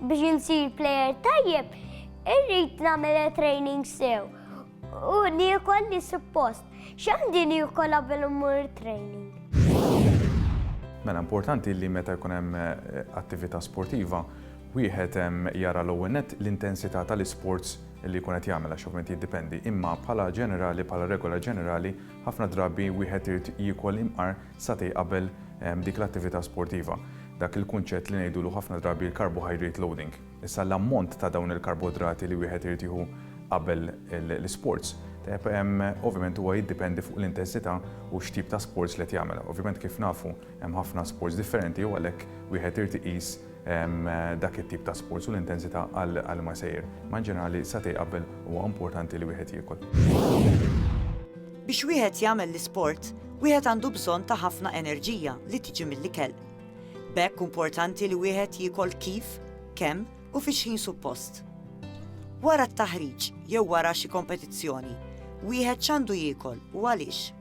Biex insir plejer tajjeb, irrid nagħmel training sew u niekol li suppost. X'għandi niekola qabel mmur training? Mela importanti li meta jkun hemm eh, attività sportiva, wieħed hemm jara l-ewwel net l-intensità tal-isports li jkun qed jagħmel għax ovvjament jiddipendi, imma bħala ġenerali, bħala regola ġenerali, ħafna drabi wieħed irid jiekol imqar satej qabel dik l-attività sportiva, dak il-kunċett li ngħidulu ħafna drabi l-carbohydrate loading. Issa l-ammont ta' dawn il-karbodrati li wieħed irid jieħu qabel l-isports, tajjeb, ovvjament huwa jiddipendi fuq l-intensità u x'tip ta' sports li qed jagħmel. Ovvjament kif nafu hemm ħafna sports differenti u għalhekk wieħed irid iqis dak it-tip ta' sports u l-intensità għal li ma jsejjer. Imma in ġenerali satej qabel huwa importanti li wieħed jiekol. Biex wieħed jagħmel l-isport, wieħed għandu bżonn ta' ħafna enerġija li tiġi mill-ikel. B'hekk importanti li wieħed jiekol kif, kemm u fi x'ħin suppost. Wara t-taħriġ jew wara xi kompetizzjoni, wieħed x'għandu jiekol u għaliex?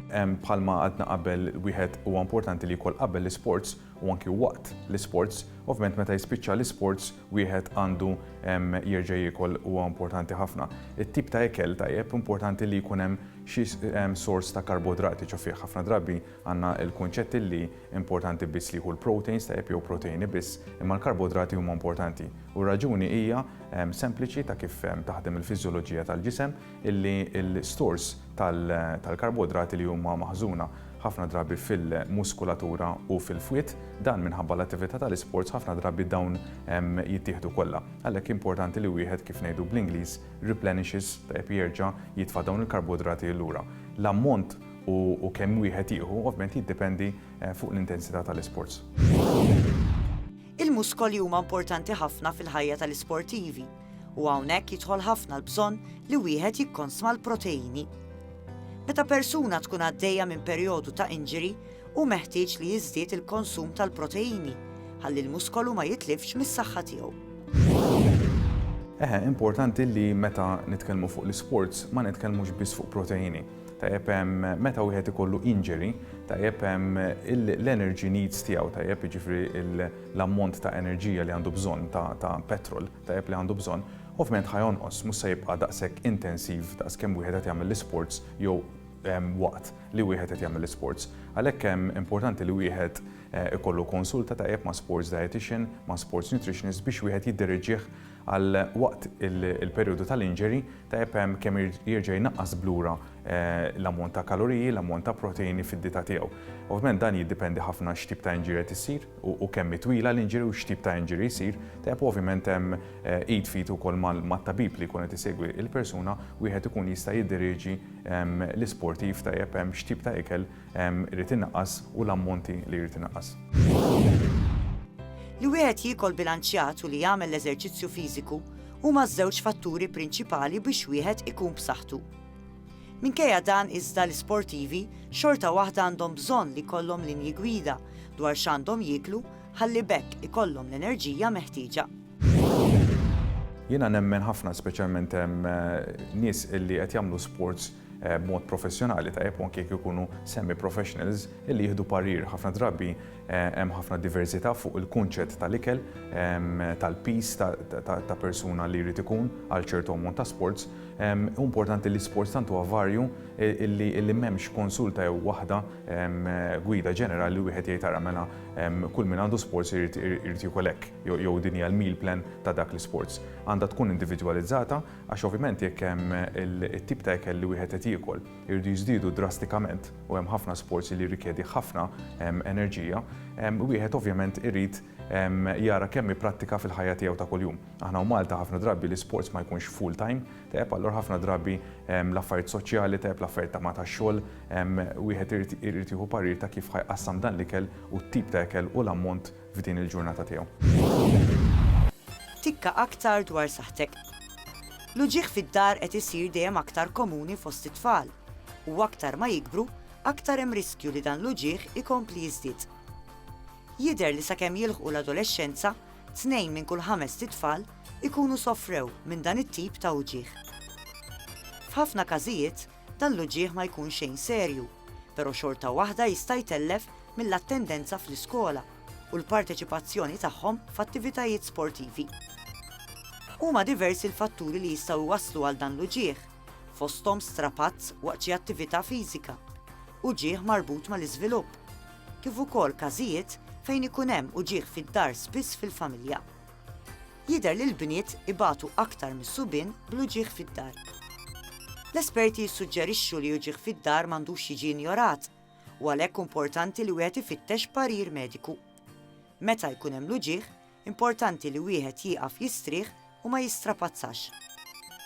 Bħalma għadna qabel, wieħed huwa importanti li jiekol qabel l-isports u anki waqt l-isports. Ovvjament meta jispiċċa l-isports wieħed għandu jerġa' jiekol huwa importanti ħafna. It-tip ta' ikel tajjeb importanti li jkun hemm xi sors ta' karbodrati, ċofieh ħafna drabi għandna l-kunċett illi importanti biss li jieħu l-proteins tajjeb jew proteini biss, imma l-karbodrati huma importanti. U r-raġuni hija sempliċi ta' kif taħdem il-fiżjoloġija tal-ġisem, illi l-istors tal-karboidrati li huma maħżuna ħafna drabi fil-muskulatura u fil-fwied, dan minħabba l-attività tal-isports ħafna drabi dawn jittieħdu kollha. Għalhekk importanti li wieħed kif ngħidu bl-Ingliż replenishes, tajjeb jerġa' jitfa' dawn il-karboidrati lura. L-ammont u kemm wieħed jieħu ovvjament jiddependi fuq l-intensità tal-isports. Il-muskoli huma importanti ħafna fil-ħajja tal-isportivi. u hawnhekk jidħol ħafna l-bżonn li wieħed jikkonsma l-proteini. Meta persuna tkun għaddejja minn perjodu ta' injury, hu meħtieġ li jiżdied il-konsum tal-proteini ħalli l-muskolu ma jitlifx mis-saħħa tiegħu. Eħe, importanti li meta nitkellmu fuq l-isports ma nitkellmux biss fuq proteini. Tajjeb hemm meta wieħed ikollu injury, tajjeb hemm l-energy needs tiegħu, tajjeb jiġifieri l-ammont ta' enerġija li għandu bżonn, ta' ta' petrol tajjeb li għandu bżonn, ovvjament ħa jonqos, mhux se jibqa' daqshekk intensiv daqs kemm wieħed qed jagħmel l-isports jew waqt li wieħed qed jagħmel l-isports. Għalhekk hemm importanti li wieħed ikollu konsulta tajjeb ma' sports dietician, ma' sports nutritionist biex wieħed jiddereġih għal waqt il-perjodu tal-injury, tajjeb hemm kemm jerġa' jnaqqas b'lura l-ammont ta' kaloriji, l-ammont ta' proteini fid-dieta tiegħu. Ovvjament dan jiddipendi ħafna x'tip ta' injury qed issir u kemm hi twila l-injury u x'tip ta' injury jsir. Tajjeb u ovvjament hemm id f'id ukoll mat-tabib li jkun qed isegwi l-persuna, wieħed ikun jista' jiddirieġi l-isportiv tajjeb hemm x'tip ta' ikel irid inaqqas u l-ammonti li jrid inaqqas. Li wieħed jiekol bilanċjat u li jagħmel l-eżerċizzju fiżiku huma ż-żewġ fatturi prinċipali biex wieħed ikun b'saħħtu. Minkejja dan iżda l-isportivi xorta waħda għandhom bżonn li jkollhom linji gwida dwar x'għandhom jieklu ħalli b'hekk ikollhom l-enerġija meħtieġa. Jiena nemmen ħafna speċjalment nies illi qed jagħmlu sports b'mod professjonali, tajjeb u anke jekk ikunu semi-professionals li jieħdu parir. Ħafna drabi hemm ħafna diversità fuq il-kunċett tal-ikel, tal-piż ta' persuna li jrid ikun għal ċertu ammont ta' sports. Hu importanti li sports tant huwa varju li m'hemmx konsulta jew waħda gwida ġenerali li wieħed jgħid ara mela kull min għandu sports irid jiekol hekk jew din hija l-meal plan ta' dak l-isports. Għandha tkun individwalizzata. Għax ovvjament jekk hemm it-tip ta' ikel li wieħed qed jiekol iridu jiżdiedu drastikament u hemm ħafna sports li jirrikjedi ħafna enerġija, wieħed ovvjament irid jara kemm ipprattika fil-ħajja tiegħu ta' kuljum. Aħna u Malta ħafna drabi l-isports ma jkunx full time, tajjeb allura ħafna drabi l-affarijiet soċjali, tajjeb l-affarijiet ta' ma' tax-xogħol, wieħed irid jieħu parir ta' kif ħa jqassam dan l-ikel u t-tip ta' ikel u l-ammont f'din il-ġurnata tiegħu. Tikka aktar dwar saħħtek. L-uġigħ fid-dar qed isir dejjem aktar komuni fost it-tfal, u aktar ma jikbru, aktar hemm riskju li dan l-uġigħ ikompli jiżdied. Jidher li sakemm jilħqu l-adolexxenza, tnejn minn kull ħamest itfal ikunu sofrew minn dan it-tip ta' uġigħ. F'ħafna każijiet, Dan l-uġigħ ma jkunx xejn serju, pero' xorta waħda jista' jtellef mill-attendenza fl-iskola u l-parteċipazzjoni tagħhom f'attivitajiet sportivi. Huma diversi l-fatturi li jistgħu jwasslu għal dan l-uġigħ, fosthom strapazz waqt xi attività fiżika, uġigħ marbut mal-iżvilupp, kif ukoll każijiet fejn ikun hemm uġigħ fid-dar spiss fil-familja. Jidher li l-bniet ibatu aktar mis-subien bl-uġigħ fid-dar. L-esperti jissuġġerixxu li uġigħ fid-dar m'għandux jiġi injorat u għalhekk importanti li wieħed ifittex parir mediku. Meta jkun hemm l-uġigħ, importanti li wieħed jieqaf jistrieħ u ma jistrapazzax.